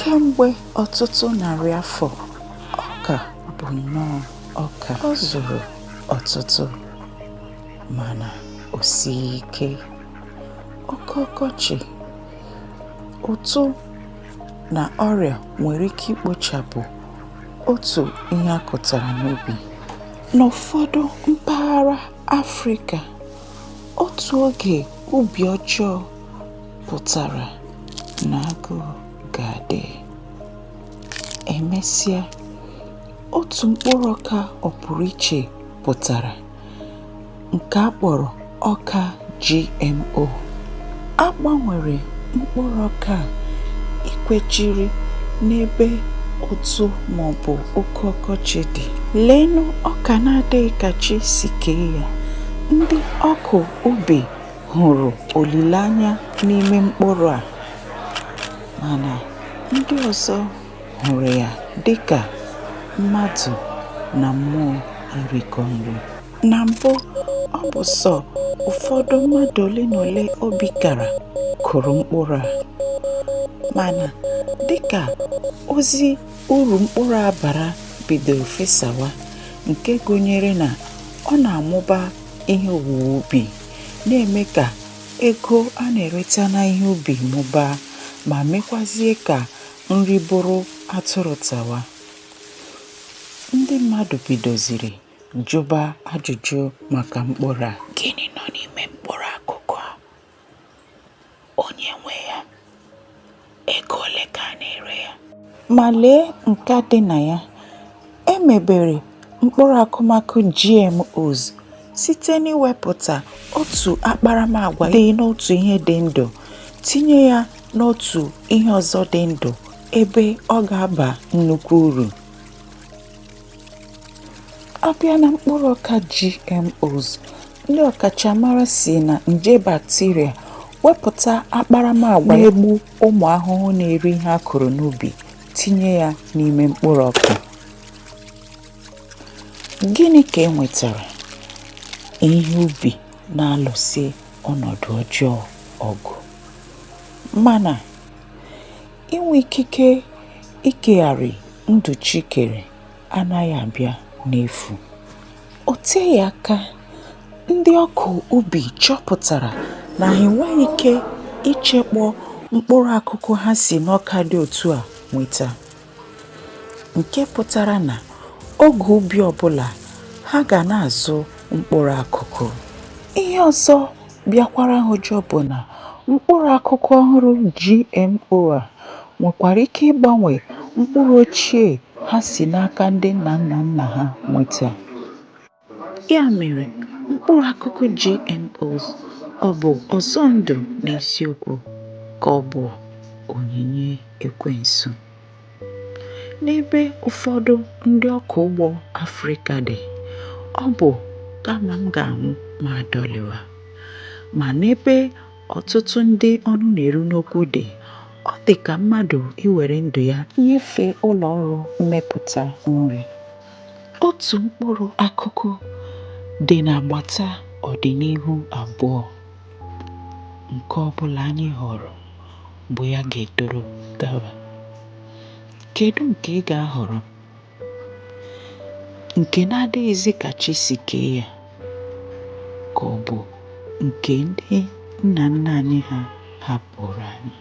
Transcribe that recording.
kemgbe ọtụtụ narị afọ ọka bụ nnọọ ọka ọ zụrụ ọtụtụ mana o sighị ike oke ọkọchị ụtụ na ọrịa nwere ike ikpochapụ otu ihe a kụtara n'ubi n'ụfọdụ mpaghara afrịka otu oge ubi ọjọọ pụtara na agụụ ga-adị. Emesịa, otu mkpụrụ ọka ọpụrụiche pụtara nke a kpọrọ ọka GMO. A gbanwere mkpụrụ ọka a ikwechiri n'ebe ụtụ maọbụ oke ọkọchị dị. Leenụ ọka na-adịghị ka chi si kee ya. Ndị ọkụ ubi hụrụ olileanya n'ime mkpụrụ a mana ndị ọzọ hụrụ ya dị ka mmadụ na mmụọ irikọ nri. Na mbụ, ọ bụ sọ ụfọdụ mmadụ ole na ole obi kara kụrụ mkpụrụ a. Mana dịka ozi uru mkpụrụ a bara bidoro fesawa nke gụnyere na ọ na-amụba ihe owuwe ubi na-eme ka ego a na-ereta n'ihe ubi mụbaa ma mekwazie ka nri bụrụ atụrụ tawa. Ndị mmadụ bidoziri jụba ajụjụ maka mkpụrụ a. Gịnị nọ n'ime mkpụrụ akụkụ a? onye nwe ya ego ole ka a na-ere ya ma lee nka dị na ya e mebere mkpụrụ akụmakụ GMOs site n'iwepụta otu akparamagwa dị n'otu ihe dị ndụ tinye ya n'otu ihe ọzọ dị ndụ ebe ọ ga-aba nnukwu uru. a bịa na mkpụrụ ọka GMOs ndị ọkachamara si na nje bacteria wepụta akparamagwa na-egbu ụmụ ahụhụ na-eri ihe a kụrụ n'ubi tinye ya n'ime mkpụrụ ọka gịnị ka e nwetara ihe ubi na-alụsi ọnọdụ ọjọọ ọgụ mana Inwe ikike ikegharị ndụ chi kere anaghị abịa n'efu. O teghị aka, ndị ọkụ ubi chọpụtara na ha enweghị ike ichekpọ mkpụrụ akụkụ ha si n'ọka dị otu a nweta, nke pụtara na oge ubi ọbụla ha ga na-azụ mkpụrụ akụkụ. Ihe ọzọ bịakwara ha ụjọ bụ na mkpụrụ akụkụ ọhụrụ GMO a nwekwara ike ịgbanwe mkpụrụ ochie ha si n'aka ndị nna nna nna ha nweta. Ya mere, mkpụrụ akụkụ GMOs ọ bụ ọzọ ndụ n'eziokwu ka ọ bụ onyinye ekwensu? N'ebe ụfọdụ ndị ọkọ ugbo Afrịka dị, ọ bụ kama m ga-anwụ ma adọlịwa. Ma n'ebe ọtụtụ ndị ọnụ na-eru n'okwu dị, ọ dị ka mmadụ iwere ndụ ya nyefee ụlọ ọrụ mmepụta nri. Otu mkpụrụ akụkụ dị n'agbata ọdịnihu abụọ nke ọ bụla anyị họọrọ. bụ ya ga-etoro gaba. Kedu nke ị ga-ahọrọ? Nke na-adịghịzi ka chi si kee ya ka ọ bụ nke ndị nna nna anyị ha hapụrụ anyị?